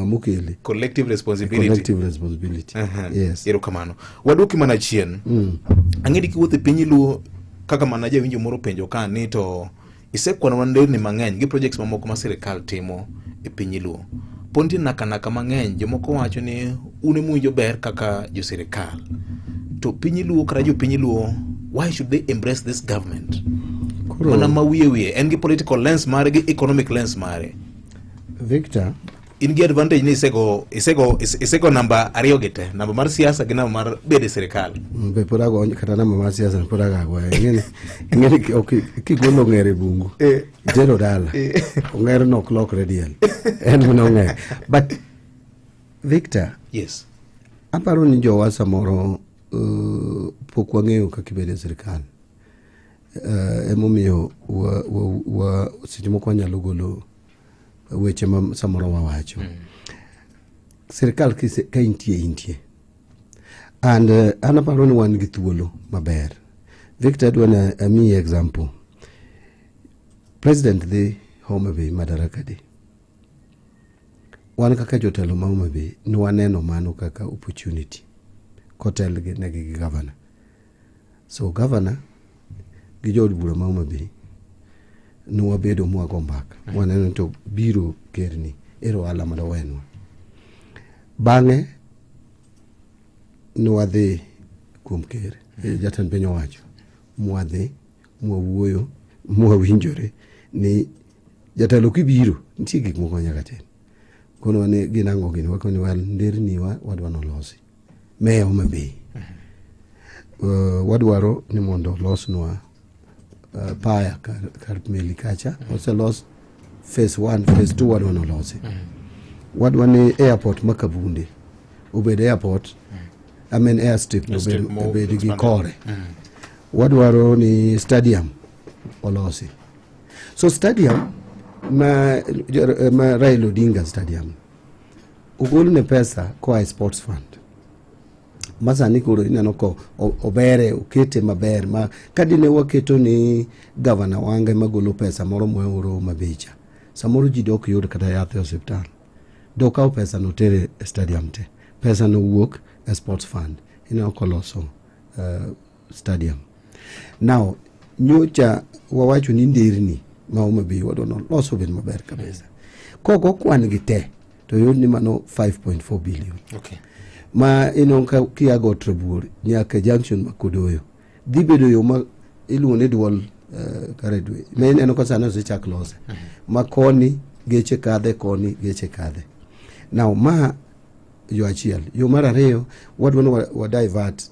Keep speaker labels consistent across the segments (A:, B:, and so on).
A: Amukele. Collective responsibility. Collective responsibility. Uh -huh. Yes. Erokamano. Waduoki mana chien. Mm. Ang'edi kiwuotho e piny iluo kaka mana jawinjo moro penjo ka ni to isekwanwa nderni mang'eny gi projects mamoko ma sirikal timo e piny iluo. Pod nitie nakanaka mang'eny jomoko wacho ni un emuwinjo ber kaka jo sirikal. To piny iluo kata jo piny iluo why should they embrace this government? Mana ma wiye wiye en gi political lens mare gi economic lens mare. Victor in gi advantage ni isego isego isego namba ariyo gi te namba mar siasa gi namba mar bedo e sirikal mm, be pod ago kata namba mar siasa pod agago ing'eni ing'eni kigolo ng'ere bungu eh. jero dala eh. ong'ere no ok lokre diel en mne ong'ere but victor yes aparo ni jowa samoro uh, pok wang'eyo kaka ibedo e sirikal Uh, emomiyo wa, wa, wa, seche moko wanyalo golo weche ma samoro wawacho mm. sirikal ka intie intie and uh, an aparo ni wan gi thuolo maber victor adwa na amiyi example president dhi homa bay madaraka day wan kaka jotelo ma homa bay ne waneno mano kaka opportunity kotelnegi gi gavana So gavana gi jood bura ma Homa Bay ne wabedo mwago mbaka mm. waneno to biro kerni ero ohala mondo wenwa. Bang'e ne wadhi kuom ker e mm. jatend piny owacho mwadhi mwawuoyo mwawinjore ni jatelo kibiro nitie gik moko nyaka tim kono ne gin ang'o gini wakoni wal nderni wa wadwa nolosi Meya Homa Bay, uh, wadwaro ni mondo olosnwa uh, paya kar, kar meli kacha oselos phase 1 phase 2 wadwa nolosi wadwa ni airport ma Kabunde obed airport I mean airstrip obed, Airstrip mo- obed gi expanded. kore wadwaro ni stadium olosi so stadium ma, ma Raila Odinga stadium Ogol ne pesa koa e sports fund masani koro ineno ko obere okete maber ma kadine waketo ni gavana wange magolo pesa moro moeuro mabecha samoro ji dok yud kata yath e osiptal dokawo pesa no tere e stadium te pesa no wuok e sports fund ineno koloso uh, stadium now nyocha wawacho ni nderni ma Homa Bay wadwa noloso obed maber kabisa kok okwan gi te to yot ni mano 5.4 billion okay. ma ino ka kiago Trabuor nyaka junction ma Kodoyo dhi bedo yo ma iluongo ni dual uh, eh, karedwe ma ineno ka sani osechak lose mm -hmm. ma koni geche kadhe koni geche kadhe now ma yo achiel yo mar ariyo wadwa ni wadivert wa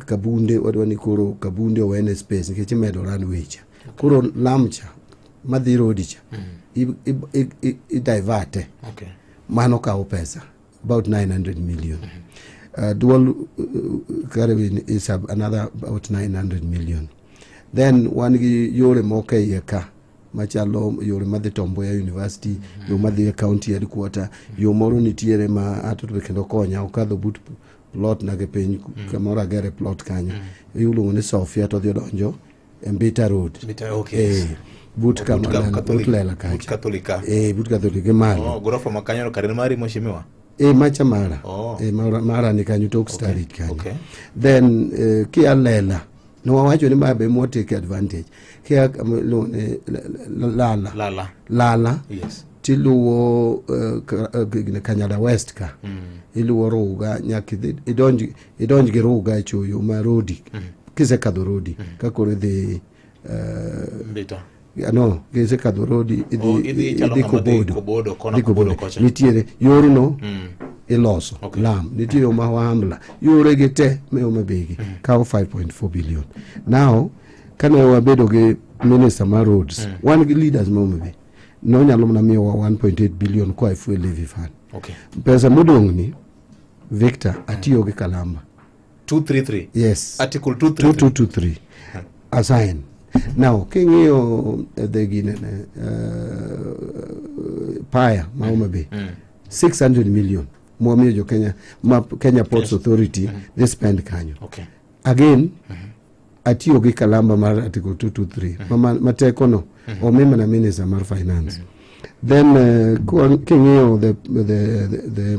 A: kabunde wadwa ni koro kabunde owene space nikech imedo ran wecha koro lamcha madhi rodicha mm. idiverte okay. mano kawo pesa about 900 million mm -hmm. uh, dual uh, carrying is another about 900 million then wan gi yore moko e iye ka machalo yore madhi Tomboya University, mm -hmm. yo madhi e county headquarter, mm -hmm. yo moro nitiere ma ato to kendo konya okadho but plot na ke piny mm -hmm. kamoro agere plot kanyo. Mm -hmm. Iluongo ni Sofia to dhi donjo e Mbita Road. Mbita, okay. Eh, but kama but lela kacha. But Katolika. Eh, but Katolika mali. Oh, gorofa makanyo karene mari mheshimiwa. Eh, macha mara. Oh. Eh, mara, mara ni kanyo tok okay. starit kanyo. Okay. Then eh, kia lela. ne wawacho ni ma be more take advantage kia um, iluongo ni la- la- lala lala lala yes tiluwo uh, ka- uh, gine kanyada west ka mm. iluwo ruga nyaka idhi- idonj idonj gi ruga e choyo ma rodi mm. kisekadho rodi mm. ka koro idhi uh, mbita ano gese kadho road idhi oh, idhi idhi kobodo kobodo kona kobodo kocha nitiere yorno mm. iloso okay. lam nitie yo ma wahamla yore gi te me oma begi mm. kawo 5.4 billion now kane wabedo gi minister ma roads mm. wan gi leaders ma oma be nonyalo mana miyowa 1.8 billion koa e fuel levy fund okay. pesa modong' ni victor atiyo gi kalamba 233 yes article 233 assign now king'iyo eh, the ginene uh, paya ma Homa Bay 600 million mwamiyo jo Kenya ma Kenya Ports Authority they spend kanyo okay again atiyo gi kalamba mar article 223 ma- ma- ma tekono omi mana minister mar finance then uh, kwa- king'iyo the, the, the, the,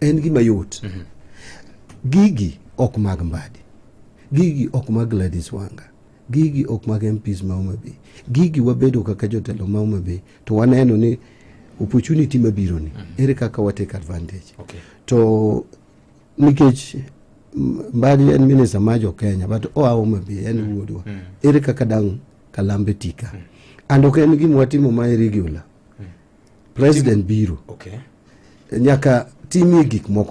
A: En gima yot. Mm -hmm. Gigi ok mag Mbadi. Gigi ok mag Gladys Wanga. Gigi ok mag MPs ma Homa Bay. Gigi wabedo kaka jotelo ma Homa Bay to waneno ni opportunity mabiro ni mm -hmm. ere kaka wa take advantage. Okay. To nikech Mbadi en minister ma jo Kenya but oa Homa Bay en mm. wuodwa. Mm -hmm. Ere kaka dang' Kalambe tika. Mm -hmm. And ok en gima watimo ma irregular. President biro. Okay. Nyaka timie gik moko